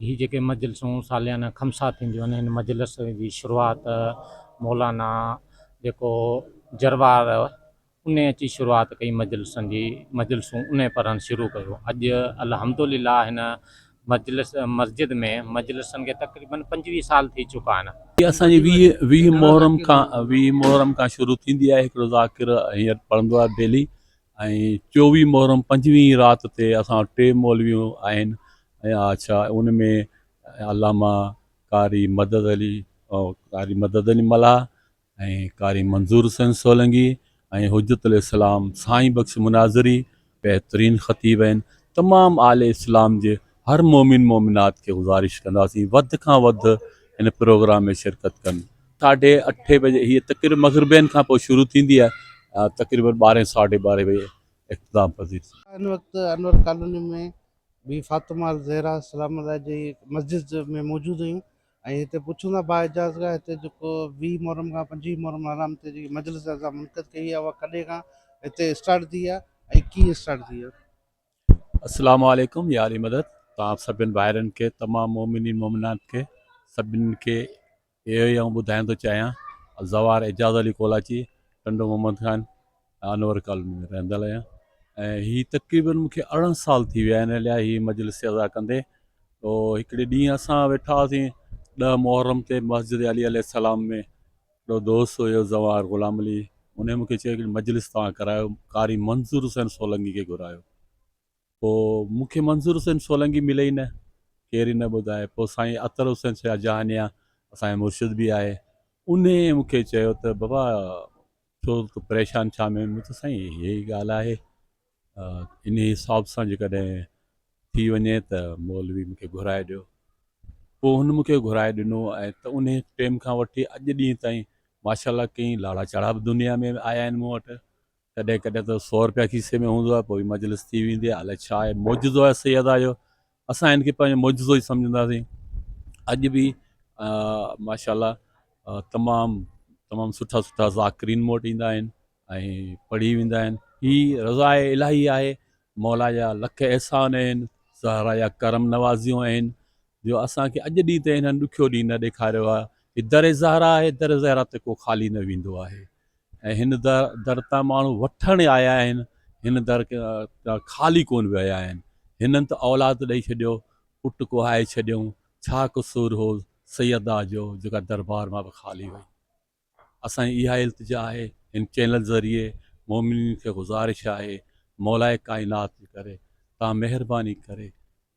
هي جيڪي مجلسون ساليانه خمسا ٿينديون آهن هن مجلس جي شروعات مولانا جيڪو جروار انهي اچي شروعات ڪئي مجلسن جي مجلسون انهي پڙهڻ شروع ڪيو اڄ الحمدلله هن مجلس مسجد ۾ مجلسن کي تقريبن پنجويهه سال ٿي چڪا آهن. هي اسان جي ويهه ويهه محرم کان ويهه محرم کان شروع ٿيندي آهي هڪڙو ذاڪر هينئر پڙهندو آهي ڊيلي ۽ چوويهه محرم پنجويهه رات تي اسان وٽ ٽي مولويون آهن ۽ آء ڇا ان ۾ علامه قاري مدد علي قاري مدد علي ملاح ۽ قاري منظور حسين سولنگي ۽ حجت الاسلام سائين بخش مناظري بهترين خطيب آهن تمام اهل اسلام جي هر مؤمن مؤمنات کي گذارش ڪنداسين وڌ کان وڌ هن پروگرام ۾ شرڪت ڪن ساڍي اٺي بجي هي تقريب مغربين کان پوء شروع ٿيندي آهي تقريبن ٻارهين ساڍي ٻارهين بجي اختتام پذير ٿيندي آهي هن وقت انور ڪالوني ۾ بي فاطمه الزهرا سلام الله جي مسجد ۾ موجود آهيون ۽ هتي پڇون ٿا با اعجاز کان هتي جيڪو ويهه محرم کان پنجويهه محرم حرام تي جيڪي مجلس اسان منعقد ڪئي آهي اها ڪڏهن کان هتي اسٽارٽ ٿي آهي ۽ ڪيئن اسٽارٽ ٿي آهي السلام عليڪم يا علي مدد توهان سڀن ڀائرن کي تمام مومنين مومنات کي سڀني کي اهو ئي آئون ٻڌائڻ ٿو چاهيان زوار اعجاز علي ڪولاچي ٽنڊو محمد خان انور ڪالوني ۾ رهندڙ آهيان ۽ هي تقريبن مونکي ارڙهن سال ٿي ويا آهن ليا هي مجلس ادا ڪندي او هڪڙي ڏينهن اسان ويٺا هئاسين ڏهه محرم تي مسجد علي عليه السلام ۾ هڪڙو دوست هيو زوار غلام علي انهي مون کي چيو هڪڙي مجلس توهان ڪرايو قاري منظور حسين سولنگي کي گهرايو پوء مون کي منظور حسين سولنگي ملي ئي نه ڪير ئي نه ٻڌائي پوء سائين عطر حسين شاهه جهانيان اسان جا مرشد به آهي انهي مون کي چيو ته بابا ڇو پريشان ڇا ۾ مون چيو سائين هيء ڳالهه آهي انهي حساب سان جيڪڏهن ٿي وڃي ته مولوي مون کي گهرائي ڏيو. پوء هن مون کي گهرائي ڏنو ۽ ته انهي ٽيم کان وٺي اڄ ڏينهن تائين ماشاء الله ڪئين لاڙا چاڙها به دنيا ۾ آيا آهن مون وٽ. ڪڏهن ڪڏهن ته سؤ رپيا کيسي ۾ هوندو آهي پوء مجلس ٿي ويندي آهي. الائي ڇا آهي معجزو آهي سيدا جو. اسان هن کي پنهنجو معجزو ئي سمجهنداسين. اڄ به ماشاء الله تمام تمام سٺا سٺا ذاڪرين مون وٽ ايندا آهن. ۽ پڙهي ويندا آهن. هي رضاء الاهي آهي، مولا جا لک احسان آهن، زهرا جا ڪرم نوازيون آهن، جو اسان کي اڄ ڏينهن تائين هنن ڏکيو ڏينهن نه ڏيکاريو آهي. هي در زهرا آهي، در زهرا تي ڪو خالي نه ويندو آهي ۽ هن در تان ماڻهو وٺڻ آيا آهن، هن در تان خالي ڪونه ويا آهن. هنن ته اولاد ڏئي ڇڏيو، پٽ ڪوهائي ڇڏيائون، ڇا قصور هو سيدا جو، جيڪا دربار مان به خالي وئي. اسان جي اها التجا آهي، هن چينل ذريعي مؤمنين کي گذارش آهي، مولائي ڪائنات جي ڪري توهان مهرباني ڪري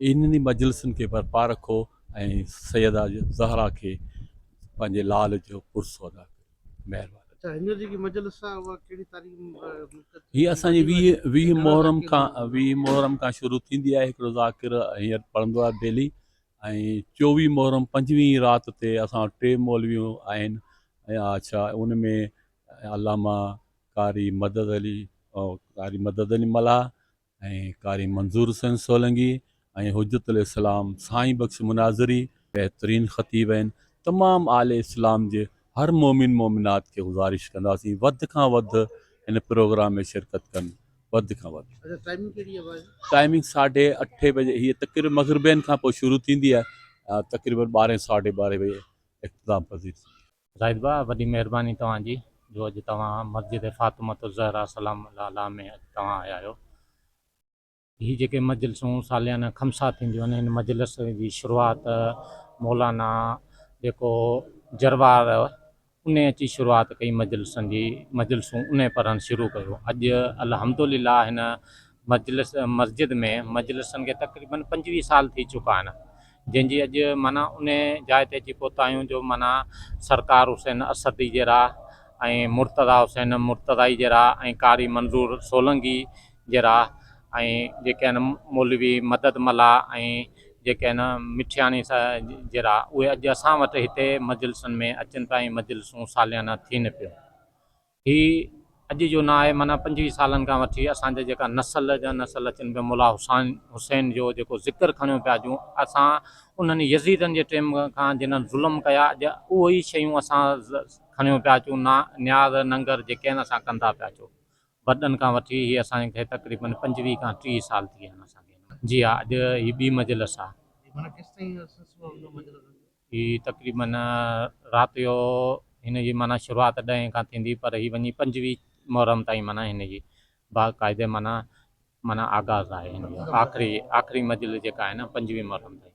انهن ئي مجلسن کي برپا رکو ۽ سيده زهرا کي پنهنجي لال جو پرسو ادا ڪيو. مهرباني. هي اسان جي ويهه محرم کان شروع ٿيندي آهي، هڪڙو ذاڪر هينئر پڙهندو آهي ڊيلي ۽ چوويهه محرم پنجويهين رات تي اسان وٽ ٽي مولويون آهن اڇا ان ۾ علامه قاري مدد علي قاري مدد علي ملاح ۽ قاري منظور حسين سولنگي ۽ حجت الاسلام سائين بخش مناظري بهترين خطيب آهن تمام اهل اسلام جي هر مؤمن مؤمنات کي گذارش ڪنداسين وڌ کان وڌ هن پروگرام ۾ شرڪت ڪن وڌ کان وڌ ٽائمنگ ساڍي اٺي بجي هي تقريبا مغربين کان پوء شروع ٿيندي آهي تقريبا ٻارهين ساڍي ٻارهين بجي اختتام پذير ٿيندي زاهد ڀاء وڏي مهرباني توهان جي جو اڄ توهان مسجد فاطمة الزهراء سلام الله عليها ۾ اڄ توهان آيا آهيو. هي جيڪي مجلسون ساليانه خمسا ٿينديون آهن هن مجلس جي شروعات مولانا جيڪو جروار انهي اچي شروعات ڪئي مجلسن جي مجلسون انهي پڙهڻ شروع ڪيو اڄ الحمد لله هن مجلس مسجد ۾ مجلسن کي تقريبن پنجويهه سال ٿي چڪا آهن جنهن جي اڄ معنيٰ انهي جاء تي اچي پهتايون جو معنيٰ سرڪار حسين اسدي جي راهه ۽ مرتضيٰ حسين مرتضائي جي راهه ۽ قاري منظور سولنگي جراح ۽ جيڪي آهن مولوي مدد ملاح ۽ جيڪي آهن مٺياڻي صاحب جراح اهي اڄ اسان وٽ هتي مجلسن ۾ اچن پيا ۽ مجلسون ساليانه ٿين پيون. هي اڄ جو نه آهي معنيٰ پنجويهه سالن کان وٺي اسان جا جيڪا نسل جا نسل اچن پيا ملاح حسان حسين جو جيڪو ذڪر کڻيو پيا اڄون اسان انهن يزيدن جي ٽيم کان جنهن ظلم ڪيا اڄ اهي ئي شيون اسان کڻيو پيا اچون نا نياز ننگر جيڪي آهن اسان ڪندا پيا اچون وڏن کان وٺي هي اسان کي تقريبن پنجويهه کان ٽيهه سال ٿي ويا آهن اسان کي هن جي ها اڄ هي ٻي مجلس آهي. معنيٰ ڪيس تائين عرصو ٿيو آهي هن مجلس کي؟ هي تقريبن رات جو هن جي معنيٰ شروعات ڏهين کان ٿيندي پر هي وڃي پنجويهه محرم تائين معنيٰ هن جي باقاعدي معنيٰ معنيٰ آغاز آهي هن جو آخري آخري مجلس جيڪا آهي نه پنجويهه محرم تائين